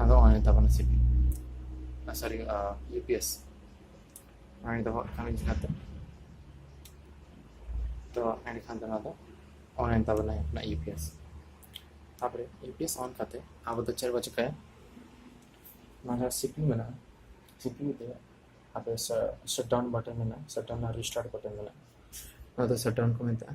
ᱟᱫᱚ ᱦᱚᱸᱜᱼᱚᱭ ᱛᱟᱵᱚᱱ ᱥᱤᱯᱤ ᱥᱚᱨᱤ ᱤᱭᱩ ᱯᱤ ᱮᱥ ᱚᱱᱟᱧ ᱫᱚᱦᱚ ᱠᱟᱜ ᱠᱟᱱᱟ ᱡᱟᱦᱟᱸ ᱫᱚ ᱛᱚ ᱮᱸᱰᱮᱠᱷᱟᱱ ᱫᱚ ᱱᱚᱣᱟ ᱫᱚ ᱚᱱᱞᱟᱭᱤᱱ ᱛᱟᱵᱚᱱᱟ ᱚᱱᱟ ᱤᱭᱩ ᱯᱤ ᱮᱥ ᱛᱟᱯᱚᱨᱮ ᱤᱭᱩ ᱯᱤ ᱮᱥ ᱚᱱ ᱠᱟᱛᱮ ᱟᱵᱚ ᱫᱚ ᱪᱮᱫ ᱵᱚ ᱪᱤᱠᱟᱹᱭᱟ ᱱᱚᱣᱟ ᱡᱟᱦᱟᱸ ᱥᱤᱯᱤ ᱢᱮᱱᱟᱜᱼᱟ ᱥᱤᱯᱤ ᱛᱮ ᱟᱯᱮ ᱥᱟᱴᱰᱟᱣᱩᱱ ᱵᱟᱴᱚᱱ ᱢᱮᱱᱟᱜᱼᱟ ᱥᱟᱴᱰᱟᱣᱩᱱ ᱟᱨ ᱨᱤᱥᱴᱟᱨᱴ ᱵᱟᱴᱚᱱ ᱢᱮᱱᱟᱜᱼᱟ ᱱᱚᱣᱟ ᱫᱚ ᱥᱟᱴᱰᱟᱣᱩᱱ ᱠᱚ ᱢᱮᱛᱟᱜᱼᱟ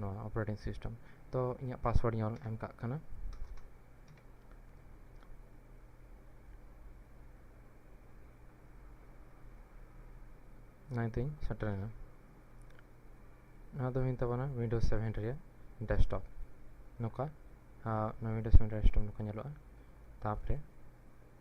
ᱱᱚᱣᱟ ᱚᱯᱟᱨᱮᱴᱤᱝ ᱥᱤᱥᱴᱮᱢ ᱛᱚ ᱤᱧᱟᱹᱜ ᱯᱟᱥᱣᱟᱨᱰ ᱤᱧ ᱚᱞ ᱮᱢ ᱠᱟᱜ ᱠᱟᱱᱟ ᱱᱚᱭ ᱛᱤᱧ ᱥᱮᱴᱮᱨᱮᱱᱟ ᱱᱚᱣᱟ ᱫᱚ ᱦᱩᱭᱮᱱ ᱛᱟᱵᱚᱱᱟ ᱩᱭᱤᱱᱰᱳᱡᱽ ᱥᱮᱵᱷᱮᱱ ᱨᱮᱭᱟᱜ ᱰᱮᱥᱠᱴᱚᱯ ᱱᱚᱝᱠᱟ ᱱᱚᱣᱟ ᱩᱭᱤᱱᱰᱳᱡᱽ ᱥᱮᱵᱷᱮᱱ ᱨᱮᱭᱟᱜ ᱰᱮᱥᱠᱴᱚᱯ ᱱᱚᱝᱠᱟ ᱧᱮᱞᱚᱜᱼᱟ ᱛᱟᱯᱚᱨᱮ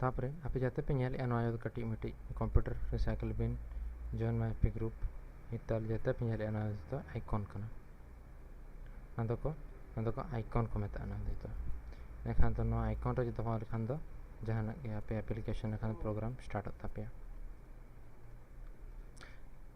ᱛᱟᱯᱚᱨᱮ ᱟᱯᱮ ᱡᱟᱛᱮ ᱯᱮ ᱧᱮᱞᱮᱜᱼᱟ ᱱᱚᱣᱟ ᱫᱚ ᱠᱟᱹᱴᱤᱡ ᱢᱤᱴᱤᱡ ᱠᱚᱢᱯᱤᱭᱩᱴᱟᱨ ᱨᱤᱥᱟᱭᱠᱮᱞ ᱵᱤᱱ ᱡᱚᱭᱮᱱ ᱢᱟᱭ ᱯᱮ ᱜᱨᱩᱯ ᱱᱤᱛᱚᱜ ᱡᱟᱛᱮ ᱯᱮ ᱧᱮᱞᱮᱜᱼᱟ ᱱᱚᱣᱟ ᱫᱚ ᱟᱭᱠᱚᱱ ᱠᱟᱱᱟ ᱱᱚᱣᱟ ᱫᱚᱠᱚ ᱱᱚᱣᱟ ᱫᱚᱠᱚ ᱟᱭᱠᱚᱱ ᱠᱚ ᱢᱮᱛᱟᱜᱼᱟ ᱱᱚᱣᱟ ᱫᱚ ᱮᱱᱠᱷᱟᱱ ᱫᱚ ᱱᱚᱣᱟ ᱟᱭᱠᱚᱱ ᱨᱮ ᱡᱩᱫᱤ ᱦᱚᱸ ᱞᱮᱠᱷᱟᱱ ᱫᱚ ᱡᱟᱦᱟᱱᱟᱜ ᱜᱮ ᱟᱯᱮ ᱮᱯᱞᱤᱠᱮᱥᱚᱱ ᱞᱮᱠᱷᱟᱱ ᱯᱨᱳᱜᱨᱟᱢ ᱥᱴᱟᱨᱴᱚᱜ ᱛᱟᱯᱮᱭᱟ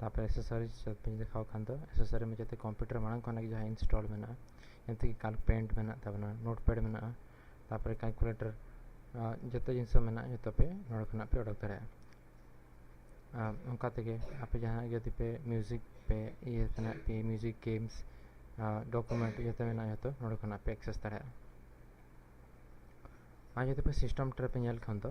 ᱛᱟᱯᱚᱨ ᱮᱥᱮᱥᱚᱨᱤᱡᱽ ᱵᱟᱹᱧ ᱫᱮᱠᱷᱟᱣ ᱠᱷᱟᱱ ᱫᱚ ᱮᱥᱮᱥᱚᱨᱤ ᱢᱟ ᱡᱟᱛᱮ ᱠᱚᱢᱯᱤᱭᱩᱴᱟᱨ ᱢᱟᱲᱟᱝ ᱠᱷᱚᱱᱟᱜ ᱜᱮ ᱡᱟᱦᱟᱸ ᱤᱱᱥᱴᱚᱞ ᱢᱮᱱᱟᱜᱼᱟ ᱡᱟᱛᱮ ᱠᱟᱞ ᱯᱮᱱᱴ ᱢᱮᱱᱟᱜ ᱛᱟᱵᱚᱱᱟ ᱱᱳᱴ ᱯᱮᱰ ᱢᱮᱱᱟᱜᱼᱟ ᱛᱟᱯᱚᱨᱮ ᱠᱟᱞᱠᱩᱞᱮᱴᱚᱨ ᱡᱚᱛᱚ ᱡᱤᱱᱤᱥ ᱢᱮᱱᱟᱜᱼᱟ ᱡᱚᱛᱚ ᱯᱮ ᱱᱚᱰᱮ ᱠᱷᱚᱱᱟᱜ ᱯᱮ ᱚᱰᱚᱠ ᱫᱟᱲᱮᱭᱟᱜᱼᱟ ᱚᱱᱠᱟ ᱛᱮᱜᱮ ᱟᱯᱮ ᱡᱟᱦᱟᱸ ᱡᱩᱫᱤ ᱯᱮ ᱢᱤᱭᱩᱡᱤᱠ ᱯᱮ ᱤᱭᱟᱹ ᱛᱮᱱᱟᱜ ᱯᱮ ᱢᱤᱭᱩᱡᱤᱠ ᱜᱮᱢᱥ ᱰᱚᱠᱩᱢᱮᱱᱴ ᱡᱚᱛᱚ ᱢᱮᱱᱟᱜᱼᱟ ᱡᱚᱛᱚ ᱱᱚᱰᱮ ᱠᱷᱚᱱᱟᱜ ᱯᱮ ᱮᱠᱥᱮᱥ ᱫᱟᱲᱮᱭᱟᱜᱼᱟ ᱟᱨ ᱡᱩᱫᱤ ᱯᱮ ᱥᱤᱥᱴᱮᱢ ᱴᱨᱮ ᱯᱮ ᱧᱮᱞ ᱠᱷᱟᱱ ᱫᱚ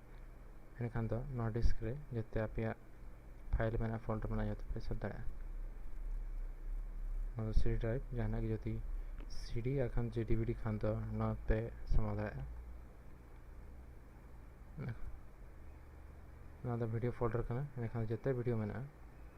ᱮᱱᱠᱷᱟᱱ ᱫᱚ ᱱᱚᱣᱟ ᱰᱤᱥᱠ ᱨᱮ ᱡᱚᱛᱚ ᱟᱯᱮᱭᱟᱜ ᱯᱷᱟᱭᱤᱞ ᱢᱮᱱᱟᱜᱼᱟ ᱯᱷᱳᱞᱰᱟᱨ ᱢᱮᱱᱟᱜᱼᱟ ᱡᱚᱛᱚ ᱯᱮ ᱥᱮᱵᱷ ᱫᱟᱲᱮᱭᱟᱜᱼᱟ ᱱᱚᱣᱟ ᱫᱚ ᱥᱤᱰᱤ ᱰᱨᱟᱭᱤᱵᱷ ᱡᱟᱦᱟᱱᱟᱜ ᱜᱮ ᱡᱩᱫᱤ ᱥᱤᱰᱤ ᱟᱨ ᱠᱷᱟᱱ ᱡᱮ ᱰᱤᱵᱤᱰᱤ ᱠᱷᱟᱱ ᱫᱚ ᱱᱚᱣᱟ ᱯᱮ ᱥᱟᱢᱟᱣ ᱫᱟᱲᱮᱭᱟᱜᱼᱟ ᱱᱚᱣᱟ ᱫᱚ ᱵᱷᱤᱰᱤᱭᱳ ᱯᱷᱳᱞᱰᱟᱨ ᱠᱟᱱᱟ ᱮᱱᱠᱷᱟᱱ ᱡᱚᱛᱚ ᱵᱷᱤᱰᱤᱭᱳ ᱢᱮᱱᱟᱜᱼᱟ